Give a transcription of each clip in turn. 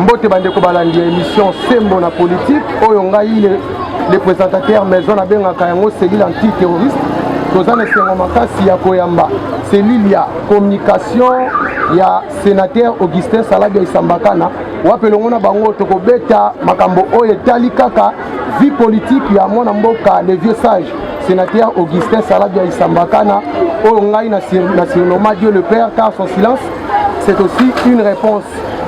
mbote bandeko balandi ya émission sembo na politique oyo ngai le, le présentateur maison nabengaka yango cellule antiterroriste toza na esengo makasi ya koyamba cellule ya communication ya sénateur augustin salabia isambakana wapi elongo na bango tokobeta makambo oyo etali kaka vie politique ya mwana mboka le vieux sage sénateur augustin salabia isambakana oyo ngai na surnoma dieu le père car son silence c'est aussi une réponse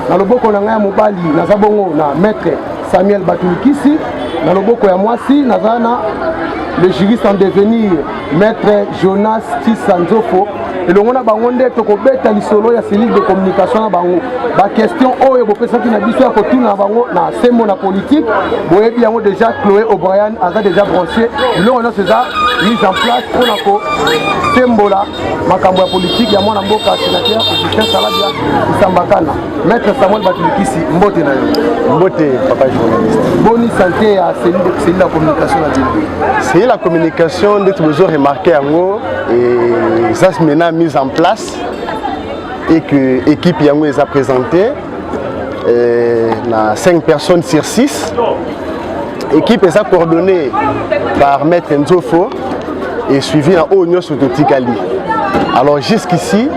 na loboko na ngai ya mobali naza bongo na maître samuel batulukisi na loboko ya mwasi naza na le juriste en devenir Maître Jonas Tissa Nzofo elongo na bango nde tokobeta lisolo ya cellule de communication na bango bakestion oyo bopesaki na biso ya kotuna na bango na sembo na politike boyebi yango déjà chloé o'brien aza déjà branché biloko nyonso eza mise en place mpo na kosembola makambo ya politike ya mwana mboka sénateur augustin salabia isambakana Maître Samuel Batulikisi, mbote na yo. Mbote papa journaliste. Boni santé ya cellule la communication na bino. C'est la communication ndeti bozo remarquer yango et ça se mena mise en place et que équipe yango eza présentée euh, na 5 personnes sur 6. Équipe eza coordonnée par maître Nzofo et suivi en haut nyonso totikali. Alors jusqu'ici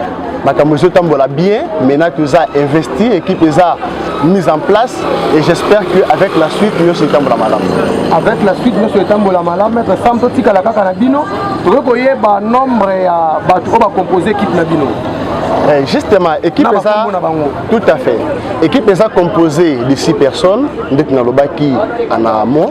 makambo ezotambola bien maintenant toza investi équipe eza mise en place et j'espère que avec la suite nyonso etambola malamu avec la suite nyonso etambola malamu maître sam totikala kaka na bino tokoki koyeba nombre ya bato oyo bacompose équipe na bino Eh, justement équipe eza tout à fait équipe eza composée de six personnes ndeti nalobaki ana amo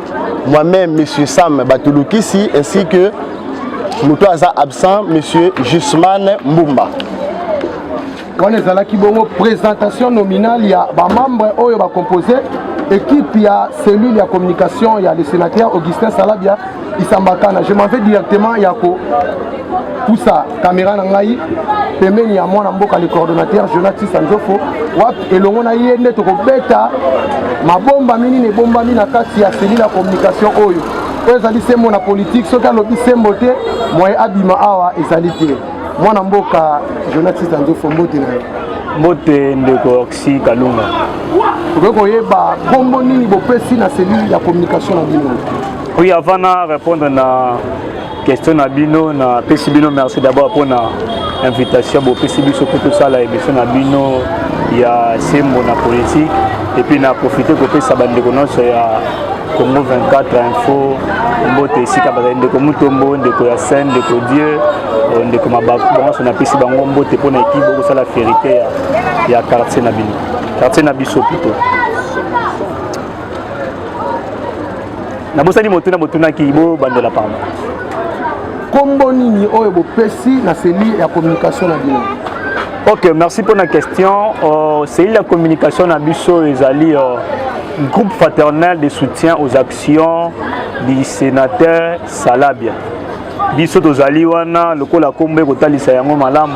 Moi-même, Monsieur Sam Batulukisi, ainsi que moto aza absent, Monsieur Jusman Mbumba. wana ezalaki bongo présentation nominale ya bamembre oyo bacompose équipe ya cellule ya communication ya le sénateur augustin salabia isambakana je m'en vais directement ya kopusa kamera na ngai pembeni ya mwana mboka le coordonnateur jonatisa nzofo wapi elongo na ye nde tokobeta mabombami nini ebombami na kati ya selile ya communication oyo oyo ezali sembo na politike soki alobi sembo te moye abima awa ezali te mwana mboka jonatisa nzofo mbote na yo mbote ndeko oxy kalunga okoki koyeba nkombo nini bopesi na selile ya communication na bino oyo avant na répondre na question na bino na pesi bino merci d'abord pona invitation bopesi biso mpo tosala émission na bino ya sembo na politique epuis na profite kopesa bandeko nyonso ya congo 24 info mbote esika bazali ndeko mutombo ndeko ya saint ndeko dieu euh, ndeko mabaku bango nyonso napesi bango mbote mpo na ekipe okosala ferite ya, ya quartier na bino quartier na biso pito nabosani motuna botunaki bobandela pamba nkombo nini oyo bopesi na seli ya communication na bino ok merci mpo na question uh, seli ya communication na biso ezali uh, groupe fraternel de soutien aux actions du sénateur salabia biso tozali wana lokola nkombo ekotalisa yango malamu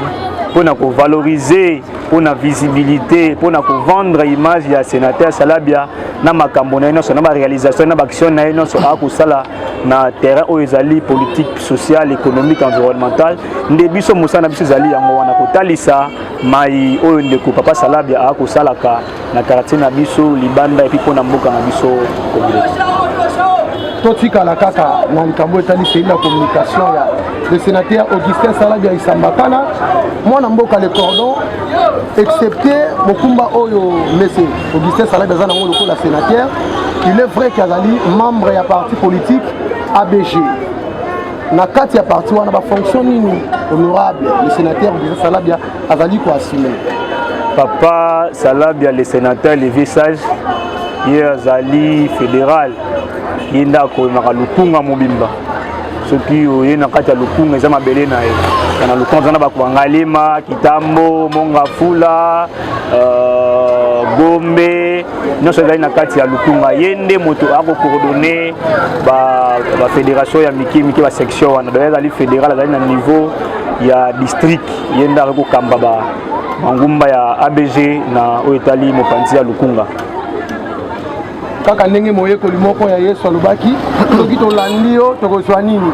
mpo na kovalorize mpo na visibilité mpo na kovendre image ya sénateur salabia na makambo na ye nyonso na baréalisation na baaction na ye nyonso akosala na terrain oyo ezali politique sociale économique environnementale nde biso mosala na biso ezali yango wana kotalisa mai oyo ndeko papa salabia akosalaka na quartier na biso libanda epi mpo na mboka na biso kobele totikala kaka na likambo etali seli na communication ya le sénateur augustin saladi ya isambakana mwana mboka le cordon excepté mokumba oyo mese augustin saladi aza nango lokola sénateur il est vrai ke azali membre ya parti politique abg na kati ya parti wana bafonction nini honorable le sénateur augustin salabia azali ko assumer papa salabia le sénateur levier sage ye azali fédéral ye nde akoyemaka lukunga mobimba soki oye na kati ya lukunga eza mabele na ye na lukunga eza na bakuangalema kitambo mongafula euh, gombe nyonso ezali na kati ya lukunga ye nde moto akocoordonne bafédération ya mike mike basection wana donc ezali fédéral azali na niveau ya district ye nde akoki kokamba bangumba ya abg na oyo etali mopanzi ya lukunga kaka ndenge moyekoli moko ya yesu alobaki soki tolandi yo tokozwa nini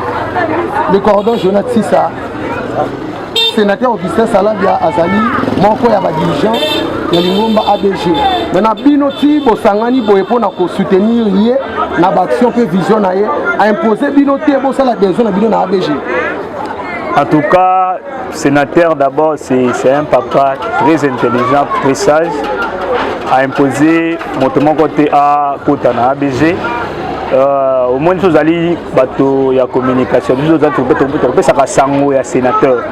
le cordon jona tisa sénateur augustin salabia azali moko ya badirigeant ya lingomba abg me na bino ti bosangani boye mpo na kosoutenir ye na baaction mpe vision na ye aimpose bino te bosala besoin na bino na abg En tout cas, sénateur d'abord, c'est un papa très intelligent, très sage, a imposé moto moko te à kota na ABG. Euh, au moins tozali bato ya communication biso tozali topesaka sango ya sénateur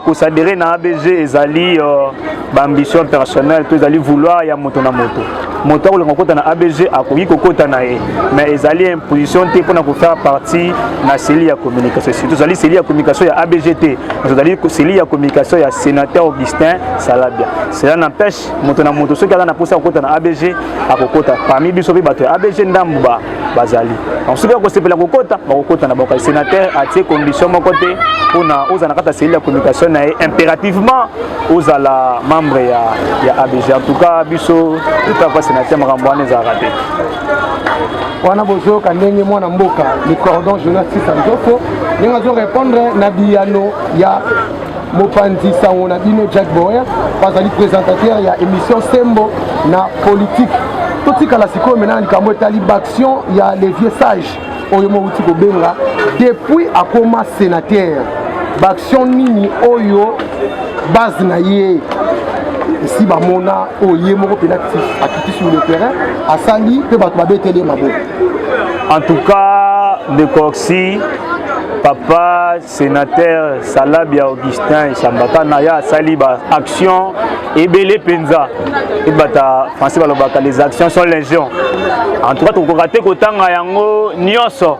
kosadere na abg ezali euh, ba ambition personnelle to ezali vouloir ya moto na moto moto akolinga kokota na abg akoki kokota na ye mais ezali imposition te mpona kofaire partie na cellule ya communication surtout ezali cellule ya communication ya abg te ezali cellule ya communication ya sénateur augustin salabia cela n'empêche moto na moto soki aza na mposa ya kokota na abg akokota parmi biso mpe bato ya abg ndambu ba bazali donc soki bakosepela kokota bakokota na bango sénateur atie condition moko te mpona ozala na kati ya cellule ya communication na ye impérativement ozala membre ya, ya abg en tout cas biso etapa sénateur makambo wana ezalaka te wana bozoyoka ndenge mwana mboka le cordon jonas sisa nzofo ndenge azo répondre na biyano ya mopanzi sango na bino jack boer bazali présentateur ya émission sembo na politique totikala sikoyo mena na likambo etali baction ya le vieux sage oyo mowuti kobenga depuis akoma sénateur baction nini oyo base na ye esi bamona oyo ye moko mpenza akiti sur le terrain asali mpe bato babeteli ye maboko en tout cas de coxi papa Senateur Salabia Augustin Isambaka na ya asali ba actions ebele mpenza ebata français balobaka les actions sont légion en tout cas tokokoka te kotanga yango nyonso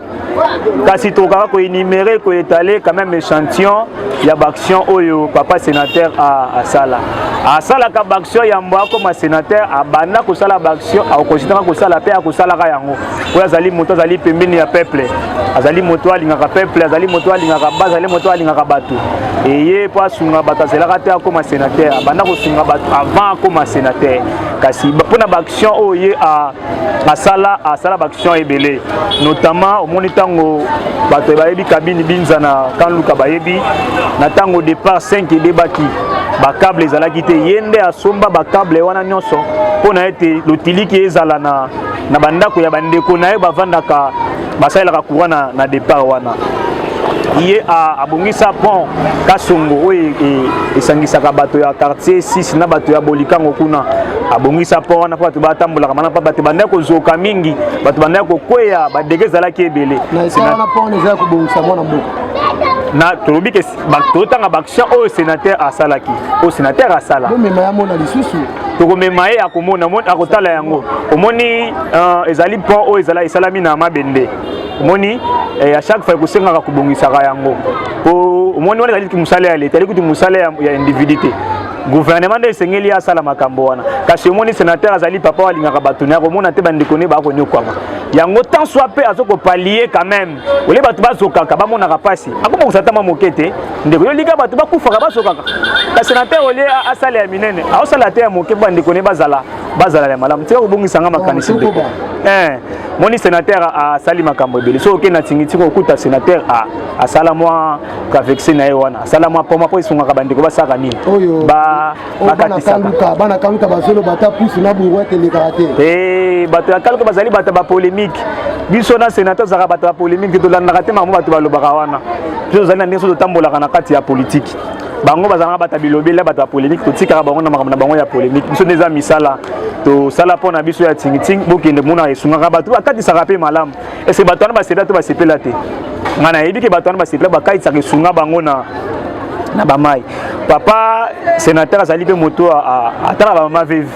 kasi tokokaka koenumere koetale quand même échantillon ya baaction oyo papa sénateur asala asalaka baaction yambo akoma sénateur abanda kosala baaction akokositaka kosala mpe akosalaka yango oyo azali moto azali pembeni ya peuple azali moto oyo alingaka peuple azali moto oyo alingaka ba azali moto oyo alingaka bato eye mpo asunga bato azelaka te akóma sénateur abanda kosunga bato avant akóma sénateur kasi mpo na baaction oyo ye asala asala baaction ebele notamment omoni ntango bato bayebi kabini binza na kanluka bayebi na ntango départ 5 edebaki bakable ezalaki te ye nde asomba bakable wana nyonso mpo na ete lotiliki ezala na na bandako ya bandeko na ye bavandaka basalelaka courant na, na départ wana ye abongisa pont kasongo oyo e, e, esangisaka bato ya quartier 6 na bato ya bolikango kuna abongisa pont wana mpo bato batambolaka mana mpo bato bandaki kozoka mingi bato bandaki kokweya badege ezalaki ebele na tolobi ke totanga baaction oyo sénateur asalaki oyo sénateur asala bomema ya mona lisusu tokomema ye akomona akotala yango omoni euh, ezali pont oyo ezala esalami na mabende omoni ya eh, chaque fois ekosengaka kobongisaka yango po omoni wana ezali mosala ya leta ezali kutu mosala ya individu te gouvernement nde esengeli asala makambo wana kasi omoni sénateur azali papa oyo alingaka bato ne akomona te bandeko ne bakonyokwama yango tant soit mpe azokopalie quand même ole bato bazokaka bamonaka mpasi akoma kosatama moke te ndeko yo lika bato bakufaka bazokaka kasi na te olie asala ya minene aosala te ya moke mpo bandeko ne bazala bazala ya malamu tika kobongisa nga makanisi ndeko eh, moni senateur asali makambo ebele soki okei na tingitiko okuta senateur asala mwa kavexe na ye wana asala mwa poma mpo esungaka bandeko basalaka nini Oh, bana kaluka bana kaluka bazoloba ata pusu na buruete elekaka te eh, bato ya kaluka bazali bato ya bapolemike biso na senate tozalaka bato ya polemike tolandaka te makambo bato balobaka wana biso tozali na ndenge so totambolaka na kati ya politiki bango bazalaka bato ya bilobela bato ya polemike totikaka bango na makambo na bango ya polemike biso nde eza misala tosala mpo na biso ya tingitingi bokende mona esungaka bato bakatisaka mpe malamu ese bato wana basepela to basepela te ngai nayebi ke bato wana basepela bakatisaka esunga bango na na bamai papa senateur azali mpe moto atala bamama vive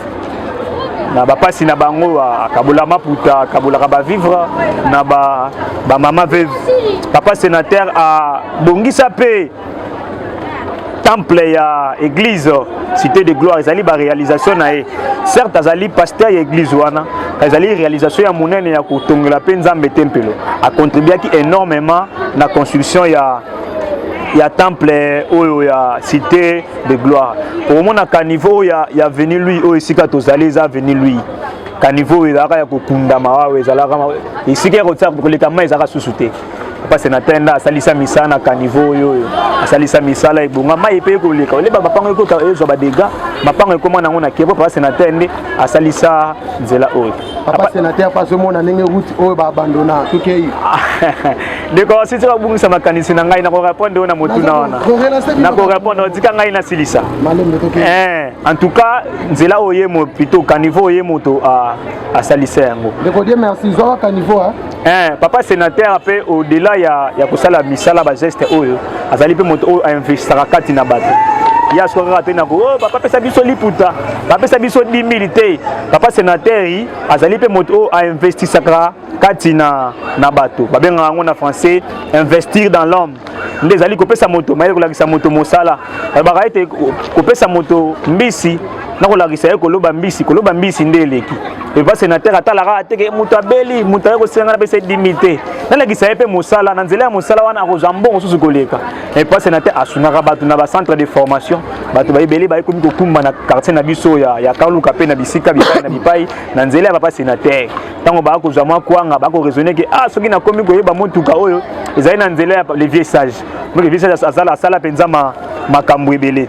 na bapasi na bango akabola maputa akabolaka bavivre na bamama ba vive papa senateur abongisa mpe temple ya église cité de gloire ezali baréalisation na ye certes azali pasteur ya église wana ezali réalisation ya monene ya kotongela mpe nzambe tempelo acontribuaki énormément na construction ya ya temple oyo ya cité de gloire okomonaka niveau ya, ya veni lui oyo esika tozali eza veni lui kanivo oyo ezalaka ya kokundama wawa ezalaka esika ya koleka mai ezalaka susu te papa senateur nda asalisa misala na caniveau oyo oyo asalisa misala ebonga mai epe ekoleka oleba mapango ekota ezwa badega mapango ekoma nango na kebo papa senateur nde asalisa nzela oyo papa senateur mpe azomona ndenge route oyo baabandona tokei ndeko asisi babungisa makanisi na ngai nakorepondre oyo na motuna wana nakorepondre otika ngai nasilisa eh, en tout cas nzela oyo ye plutôt caniveau oyo ye moto asalisa yango ndeko die merci zwaka caniveau Eh, papa senateur mpe au-delà ya, ya kosala misala bageste oyo azali mpe moto oyo ainvestaka kati na bato ye asuka kaka te nako oh, papa apesa biso liputa bapesa biso 10 te papa senateur azali mpe moto oyo ainvestisaka kati na, na bato babengaka yango na français investir dans l'homme nde ezali kopesa moto mayele kolakisa moto mosala alobaka ete kopesa moto mbisi na kolakisa ye koloba mbisi koloba mbisi nde eleki epa senatere atalaka ateke moto abeli moto aye kosenga na pesa dimi te nalakisa ye mpe mosala na nzela ya mosala wana akozwa mbongo mosusu koleka epa senatere asungaka bato na bacentre de formation bato baebele baye komi kokumba na quartier na biso ya, ya kaluka mpe na bisika bipai na bipai na nzela ya papa senatere ntango baya kozwa mwa kwanga bakoraisonne ke ah soki nakomi koyeba motuka oyo ezali na nzela ya le vieux sage donc le vieux sage azala asala mpenza makambo ebele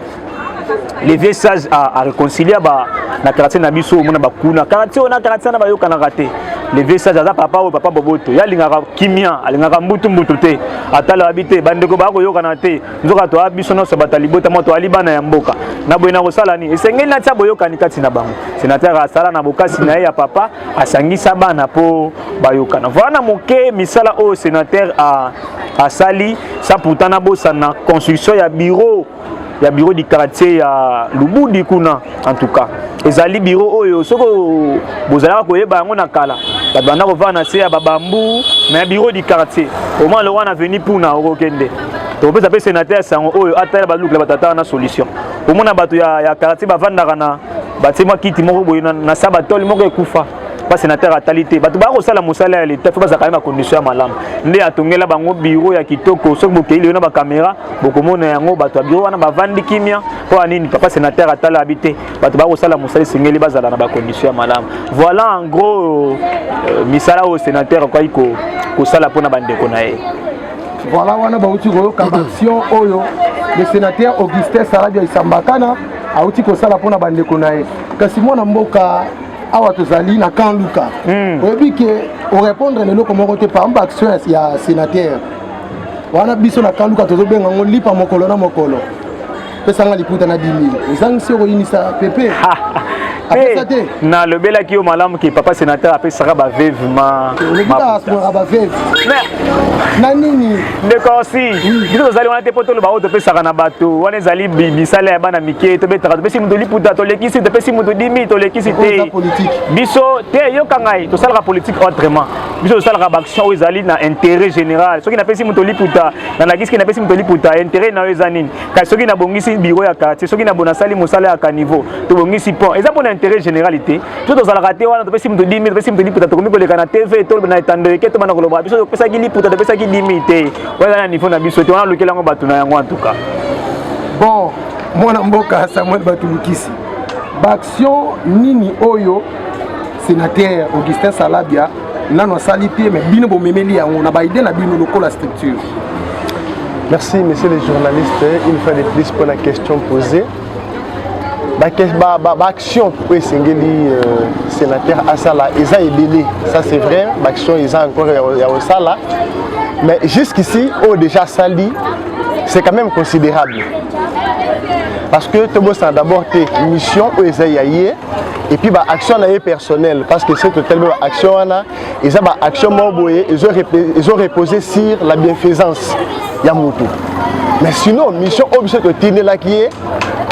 le vieux sage areconcilia ba na quartier na biso omona bakuna quartier oyo na quartier wana bayokanaka te le vieux sage aza papa oyo papa boboto ye alingaka kimia alingaka mbutu mbutu te atala abi te bandeko baya koyokana te nzoka toa biso nyonso bato ya libota moko toali bana ya mboka na boye nakosala nini esengeli natya boyokani kati na bango senatere asala na bokasi na ye ya papa asangisa bana mpo bayokana voila na moke misala oyo senatere asali sa pourtant nabosana construction ya bureau ya bureau du quartier ya lubudi kuna en tout cas ezali biro oyo soki bozalaka koyeba yango na kala bato banda kovanda na se ya babambu mais biro du quartier omwa lowa na veni puna okokende tokopesa mpe senateur ya sango oyo atala balukela bato atala na solution omona bato ya, ya quartier bavandaka na batie mwa kiti moko boye na, na sabatole moko ekufa mpa senateur atali te bato baya kosala mosala ya leta fo bazalaka ye bakondition ya malamu nde atongela bango biro ya kitoko soki bokei leyo na bakamera bokomona yango bato ya biro wana bavandi kimia mpo ya nini papa senateur atala abi te bato bakosala mosala esengeli bazala na bacondition ya malamu voilà en gros euh, misala oyo senateur akoki kosala mpo na bandeko na ye voilà wana bauti koyoka baaction oyo le sénateur augustin saladia isambakana auti kosala mpo na bandeko na ye kasi mwana mboka awa tozali na camp luka hmm. oyebi ke orépondre na eloko moko te par exemple action ya sénateur wana biso na camp luka tozobenga yango lipa mokolo na mokolo pesanga liputa na 10000 ozangisi okoyinisa pepe apesa te nalobelaki yo malamu ke papa sénateur apesaka baveve ma olekitaasungaka baveve na nini ndeko osi biso tozali wana te mpo toloba oyo topesaka na bato wana ezali misala ya bana mike tobetaka topesi moto liputa tolekisi topesi moto dimi tolekisi te biso te yoka ngai tosalaka politike autrement biso tosalaka baaction oyo ezali na intérêt général soki napesi moto liputa na nalakisi ke napesi moto liputa interet na yo eza nini kasi soki nabongisi biro ya quartier soki nabonasali mosala ya caniveau tobongisi pont eza mpo na interet général te so tozalaka te wana topesi moto 10 topesi moto liputa tokomi koleka na tv to na etando eke tobanda koloba biso topesaki liputa topesaki 10 te oyo eza na niveau na biso te wana alukeli yango bato na yango antuka bon mwana mboka samuel batulukisi baaction nini oyo sénateur augustin salabia nano asali te mais bino bomemeli yango na baide na bino lokola structure merci monsieur le journaliste une fois de plus mpo na question posée baaction ba, ba, ba oyo esengeli euh, sénateur asala eza ebele ça c'est vrai baaction eza encore ya kosala mais jusqu'ici oyo déjà asali c'est quand même considérable parce que tobosana d'abord te mission oyo eza ya ye et puis ba action na ye personnel parce que c'est totalement ba action wana eza ba action moko boye ezo ezo reposer sur la bienfaisance ya mutu mais sinon mission oyo biso totindelaki ye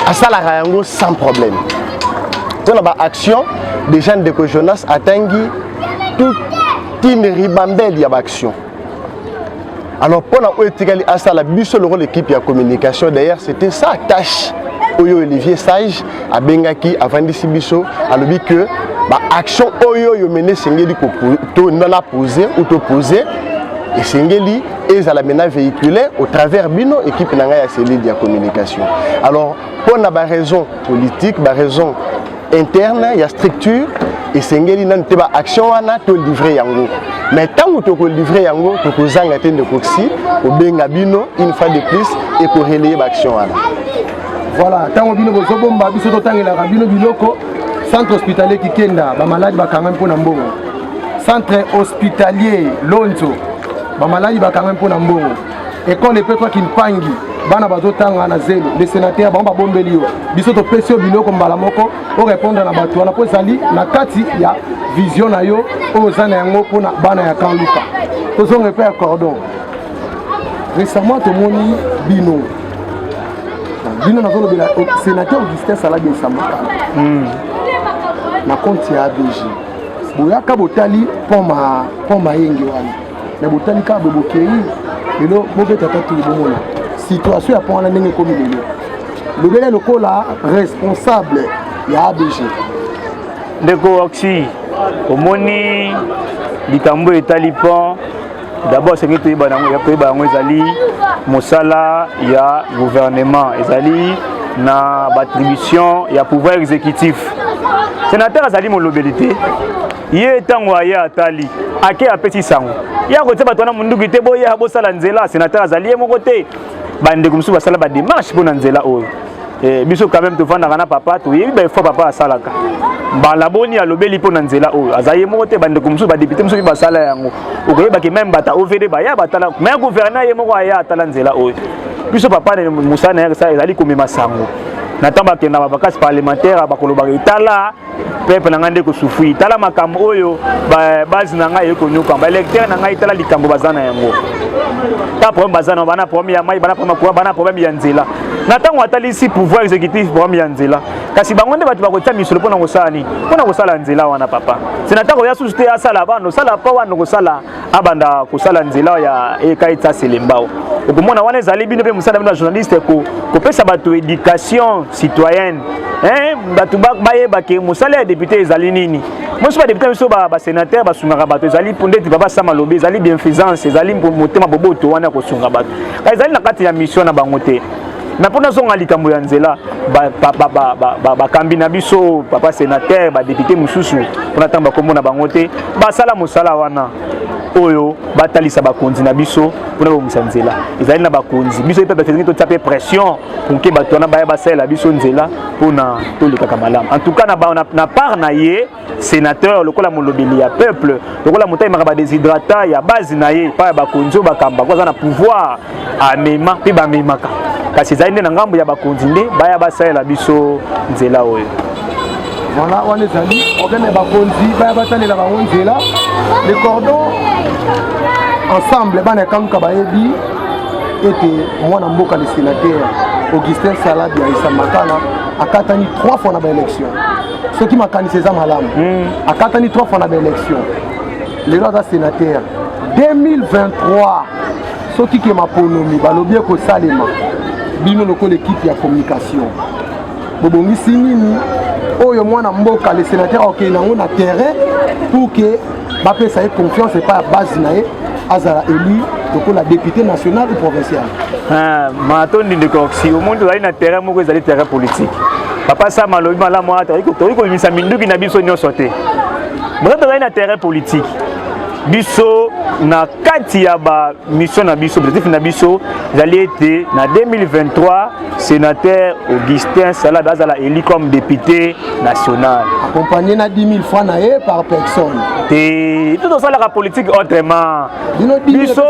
asalaka yango sans problème mpo na ba action déjà ndeko jonas atangi toute une ribambelle ya ba action alors mpo na oyo etikali asala biso lokola ekipe ya communication d'ailleurs c'était sa tâche oyo olivier sage abengaki avandisi biso alobi que baaction oyo oyo mene esengeli na pose ou topose esengeli ezala mena véhicule au travers bino équipe na ngai ya cellule ya communication alors mpo na baraison politique baraison interne ya structure esengeli nanu te ba action wana to livrer yango mais ntango tokolivre yango tokozanga te ndeko xi kobenga bino une fois de plus ekorelaye baaction wana voilà ntango bino bozobomba biso totangelaka bino biloko centre hospitalier kikenda bamaladi bakangami mpo na mbongo centre hospitalier lonzo bamaladi bakangami mpo na mbongo Ecole epetwa Kimpangi, bana bazotanga na zelo. Le senateur bango babombeli yo, biso topesi yo biloko mbala moko orepondre na bato wana mpo ezali na kati ya vision na yo oyo oza na yango mpo na bana ya kan luka. Tozonga epai ya cordon. Récemment tomoni bino bino nazolobela senateur Augustin Saladi Esamaka hmm. na compte ya ABG boyaka botali pont mayenge wana na botali kaka boye bokei lelo bobeta tatu bomona situation ya mpo wana ndenge ekomi lelo lobele lokola responsable ya abg ndeko oxy omoni likambo etali pont d'abord soki toyeba yango ezali mosala ya gouvernement ezali na batribution ya pouvoir exécutif sénateur azali molobeli te ye ntango aye atali ake apesi sango ye akotia bato wana monduki te boya bosala nzela senateur azali ye moko te bandeko mosusu basala bademarche mpo na nzela oyo eh, biso quand même tofandaka na papa toyebi baefoi papa asalaka mbala boni alobeli mpo na nzela oyo aza ye moko te bandeko mosusu badepute mosusu basala yango okoyebaki meme bata ovd baya batala me gouverneur ye moko aya atala nzela oyo biso papa mosala na ye ezali komema sango na ntango bakenda bavakance parlementaire bakolobaka etala pepe na ngai nde kosufui tala makambo oyo base na ngai ekonyoka baelecteur na ngai tala likambo baza na yango ta problème baza na bana problème ya mai bana problème ya courant bana problème ya nzela na ntango atalisi pouvoir exécutif problème ya nzela kasi bango nde bato bakotia misolo mpo na kosala nini mpo na kosala nzela wana papa senata koya susu te asala bana osala mpo wana okosala abanda kosala nzela ya eka etsa selembao okomona wana ezali bino mpe mosala bino ya journaliste kopesa bato éducation citoyenne eh, bato bayeba ke mosala ya député ezali nini mosusu badepute na biso basénateur basungaka bato ezali ndeti papa sama lobi ezali bienfaisance ezali motema boboto wana ya kosunga bato kasi ezali na kati ya mission na bango te na mpo nazonga likambo ya nzela bakambi na biso papa senateur badepute mosusu mpona ntango bakombo na bango te basala mosala wana oyo batalisa bakonzi na biso mpona babongisa nzela ezali na bakonzi biso mpe bafezingi totya mpe pression poke bato wana baya basalela biso nzela mpona tolekaka malamu en tout cas na part na ye senateur lokola molobeli ya peuple lokola moto ayemaka badesidrata ya base na ye epai ya bakonzi oyo bakamba ko aza na pouvoir amema mpe bamemaka kasi ezali nde na ngambo ya bakonzi nde baya basalela biso nzela oyo voilà wana ezali problème ya bakonzi baya batalela bango nzela le cordon ensemble bana ya kamuka bayebi ete mwana mboka le sénateur augustin salabi ya isamakala akatani 3 fois na baélection soki makanisi eza malamu hmm. akatani 3 fois na baélection lelo aza sénateur 2023 soki ke maponomi balobi ekosalema bino lokola ekipe ya communication bobongisi nini oyo mwana mboka le sénateur akokende yango na terrain pour ke bapesa ye confiance epai ya base na ye azala élu lokola député national ou provincial ah, matondi ndeko oxi omoni tozali na terrain moko ezali terrain politique papa sama alobi malamu wana tokoki kobimisa minduki na biso nyonso te boza tozali na terrain politique biso na kati ya bamission na biso objectif na biso ezali ete na 2023 Sénateur Augustin Salad azala élu comme député national. Accompagné na 10 000 francs na ye par personne. Te tout osalaka politique autrement. Biso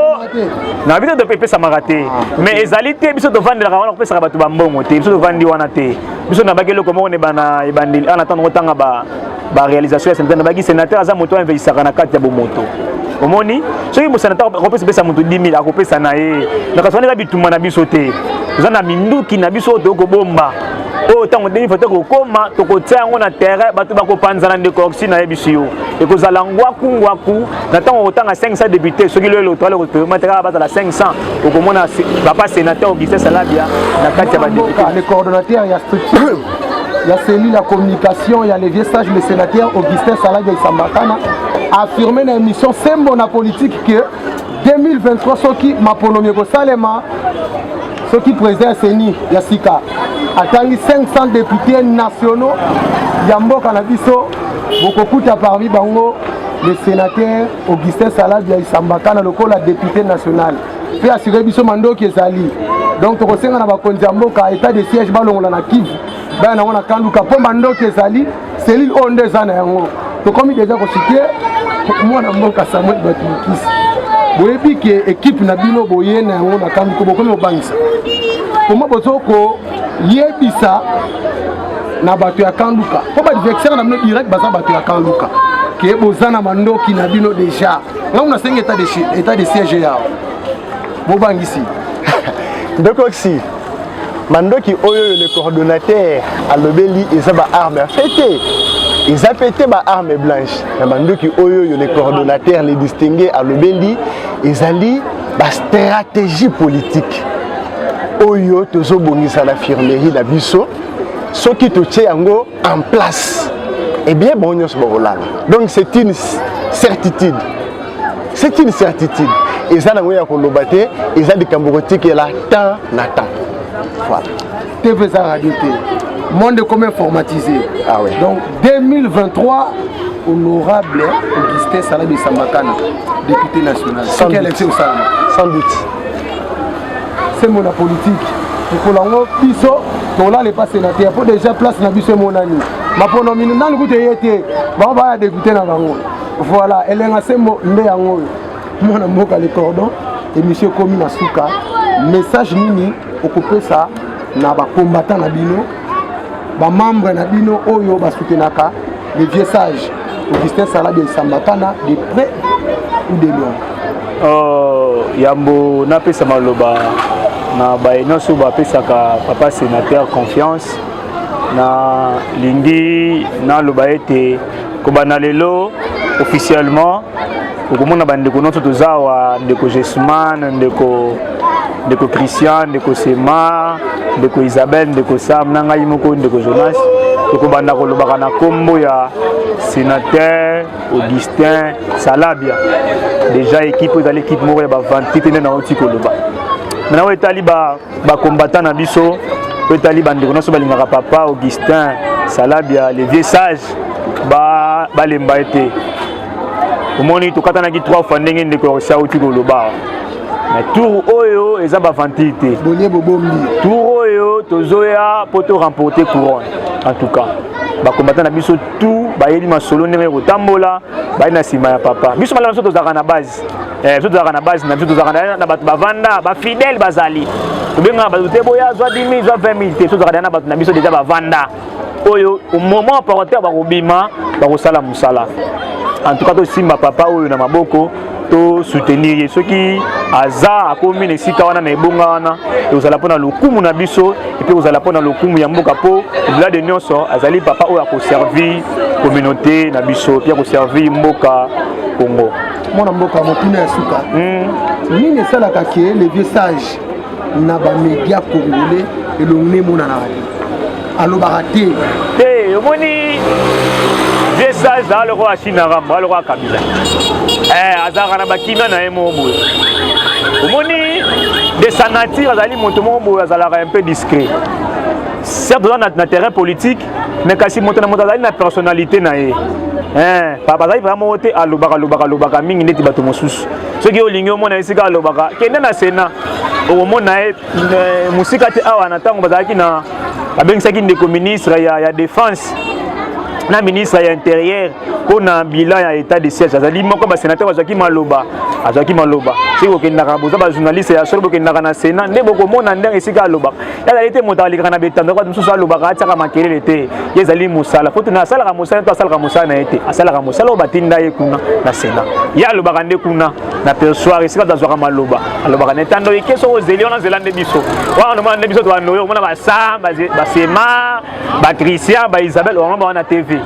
na biso to epesamaka te ah, mais ezali te biso tovandelaka wana kopesaka bato bambongo te biso tovandi wana te biso nabaki eloko moko na ebandeli ana ntango otanga ba ba réalisation ya sénateur nabaki sénateur aza moto amveyisaka na kati ya bomoto omoni soki bosénateur akopesa pesa moto 10 000 akopesa na ye na kasi wana eza bitumba na biso te toza na minduki na biso oyo toyei kobomba oyo ntango ndenge foto kokoma tokotia yango na terrain bato bakopanzana ndeko oxy nayebisi yo ekozala ngwaku ngwaku na ntango okotanga 500 député soki lelo electoral ekotomataka bazala 500 okomona papa sénateur augustin salabia na kati ya badepute ya cellule ya communication ya le vieux sage le sénateur Augustin Saladi Isambakana affirme na émission sembo na politique que 2023 soki maponomi ekosalema soki président ya CENI ya sika atangi 500 députés nationaux ya mboka na biso bokokuta parmi bango le sénateur Augustin Saladi ya Isambakana lokola député national mpe asire biso mandoki ezali donc tokosenga na bakonzi ya mboka etat de siège balongola na kivu baya nango na kanduka mpo mandoki ezali selile oyo nde eza na yango tokomi deja kosite mwana mboka samuel bato mokisi boyebi ke ekipe na bino boye na yango na kanduka bokomi kobangisa koma bozo koyebisa na bato ya kanduka mpo badivexere na bino direct baza bato ya kanduka ke boza na mandoki na bino deja ngai nasengi etat de siège yao bobangisi ndokoksi mandoki oyo oyo le coordonnateur alobeli eza baarme ya fete eza mpe te baarme blanche na mandoki oyo oyo le coordonnateur le distingue alobeli ezali bastratégie politique oyo tozobongisa na firmerie na biso soki totie yango en place eh bien bango nyonso bakolala donc c'est une certitude c'est une certitude eza nango ya koloba te eza likambo kotikela temps na temps voilà tv eza radio te monde comme informatisé ah ouais. donc 2023 honorable augustin salabi sambakana député national soki élection osalama sans doute sembo na politiki mokolo yango biso tolala epa senateur mpo déjà place na biso emonani mapono mino nani kutu eye te bango baya depute na bango voilà elenga sembo nde yango oyo mwana mboka le cordon emission ekomi na suka message nini okopesa na bakombata na bino bamembre na bino oyo basutenaka le vieux sage augustin saladi ya isambatana de près ou de loin oh, yambo napesa maloba na baye nyonso bapesaka papa sénateur confiance nalingi naloba ete kobanda lelo officiellement okomona bandeko nyonso toza awa ndeko jesman ndeko ndeko christian ndeko sema ndeko isabelle ndeko sam na ngai moko ndeko jonas tokobanda kolobaka na nkombo ya sénateur augustin salabia déjà ekipe ezali ekipe moko ya bavanti te nde nauti koloba maintenant oyo etali bakombata na biso oyo etali bandeko nyonso balingaka papa augustin salabia le vieux sage balemba ba ye te omoni tokatanaki trois fois ndenge ndeko ya kosi auti koloba na tour oyo eza bavantile te bolie bobombi tour oyo tozoya mpo to remporte couronne en tout cas bakombata na biso tout bayebi masolo ndenge kotambola baye na nsima ya papa biso malala biso tozalaka na base eh, biso tozalaka na base na biso tozalaka na bato bavanda bafidèle bazali tobengaka bato te boya zwa 10 000 zwa 20 000 te biso tozalaka na bato na biso deja bavanda oyo moment operateur bakobima bakosala mosala en tout cas tosimba papa oyo na maboko to soutenir ye soki aza akomi na esika wana na ebonga wana ekozala mpo na lokumu na biso epe ekozala mpo na lokumu ya mboka mpo obila de nyonso azali papa oyo akoservir communauté na biso mpe akoservir mboka congo mwana mboka motuna ya suka hmm. nini esalaka ke le vieux sage na bamedia congolais elongi emonanaka te alobaka te te omoni vieux sage zaa lokola asinaka mbo alokola kabila eh, azalaka na bakina na ye moko boye omoni de sa nature azali moto moko boye azalaka un peu discret certes oza na terrain politique mais kasi moto na moto azali na personnalité na ye eh, papa azali papa moko te alobaka lobaka alobaka mingi ndeti bato mosusu soki olingi omona esika alobaka kende na sena okomona ye eh, mosika te awa na ntango bazalaki na babengisaki ndeko ministre ya, ya défense na ministre ya interieur mpo na bilan ya état de siège azali moko basenateur bazwaki maloba azwaki maloba soki bokendaka boza bajournaliste ya solo bokendaka na sénat nde bokomona ndenge esika alobaka ezali te moto alekaka na betando bato mosusu alobaka atiaka makelele te ye ezali mosala po tuna asalaka mosala to asalaka mosala na ye te asalaka mosala oyo batinda ye kuna na sena ye alobaka nde kuna na persoire esika bato azwaka maloba alobaka na etando eke soko ozeli wana zela nde biso wana omona nde biso tobanda oyo omona basamba basema Patricia ba Isabelle Oramba wana TV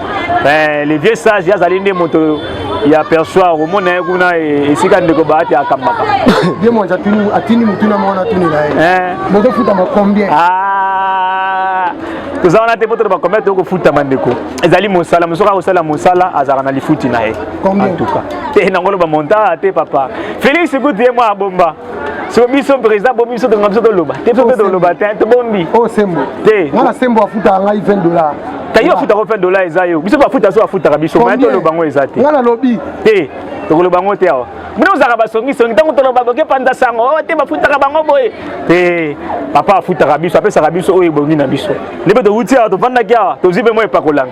eh, le vieux sage azali nde moto ya persoir omona ye kuna e, esika ndeko baati akambaka ye moanzi atindi motuna moko natuni na ye eh. bozofutama combien ah, toza wana te mpo toloba combien toyoko futama ndeko ezali mosala mosoki akosala mosala azalaka na lifuti na ye antuka te nango loba monta te papa félix kutu ye mwa abomba so biso président bomi biso tonga biso toloba te biso mpe toloba te tobombi o oh, sembo te nga na sembo afutaka ngai 20 dollar ta yo afutaka 20 dollar eza yo biso bafuta so afutaka biso mai toloba yango eza te nga nalobi te tokoloba yango te awa bino ozalaka basongisongi ntango toloba boke panza sango oh, te bafutaka bango boye te papa afutaka biso apesaka biso oyo ebongi na biso nde mpe towuti awa tofandaki awa tozwi mpe mwa epakolami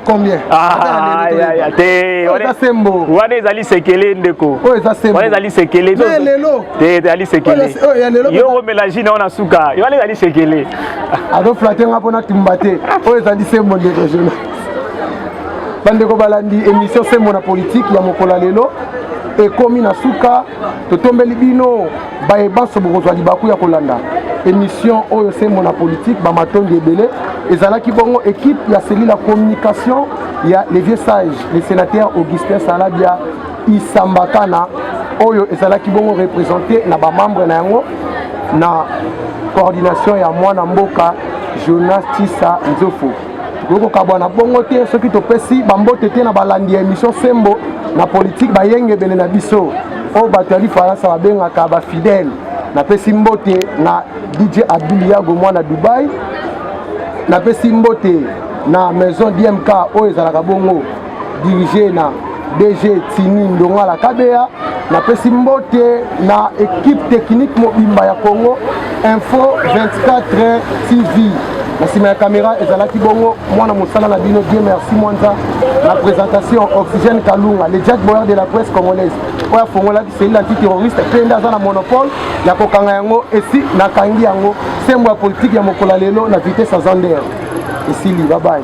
wana ezali sekele ndeko wana ezali sekele ezali sekele yo okomela jina wana suka wana ezali sekele azoflate nga mpo natumba te oyo ezali sembo ndeko jona bandeko balandi émission sembo na politike ya mokolo ya lelo ekomi na suka totombeli bino baye banso bokozwa libaku ya kolanda émission oyo sembo na politique bamatondi ebele ezalaki bongo équipe ya cellule ya communication ya le vieux sage le sénateur augustin salabia isambakana oyo ezalaki bongo représente na bamembre na yango na coordination ya mwana mboka jonas tisa nzofo tokoki kokabwana bongo te soki topesi bambote te na balandi ya émission sembo na politike bayengebene na biso oyo bato ya lifaransa babengaka bafidèle napesi mbote na dj abiliago mwana dubai napesi mbote na maison dmk oyo ezalaka bongo dirige na dg tini ndongala kabeya napesi mbote na ekipe teknike mobimba ya congo info 24 tv na nsima ya kamera ezalaki bongo mwana mosala na bino die merci mwanza na présentation oxygène kalunga le jack boyer de la presse congolaise oyo afongolaki selile antiterroriste mpe nde aza na monopole ya kokanga yango esi nakangi yango sembo ya politike ya mokolo ya lelo na vitesse ya zander esili babaye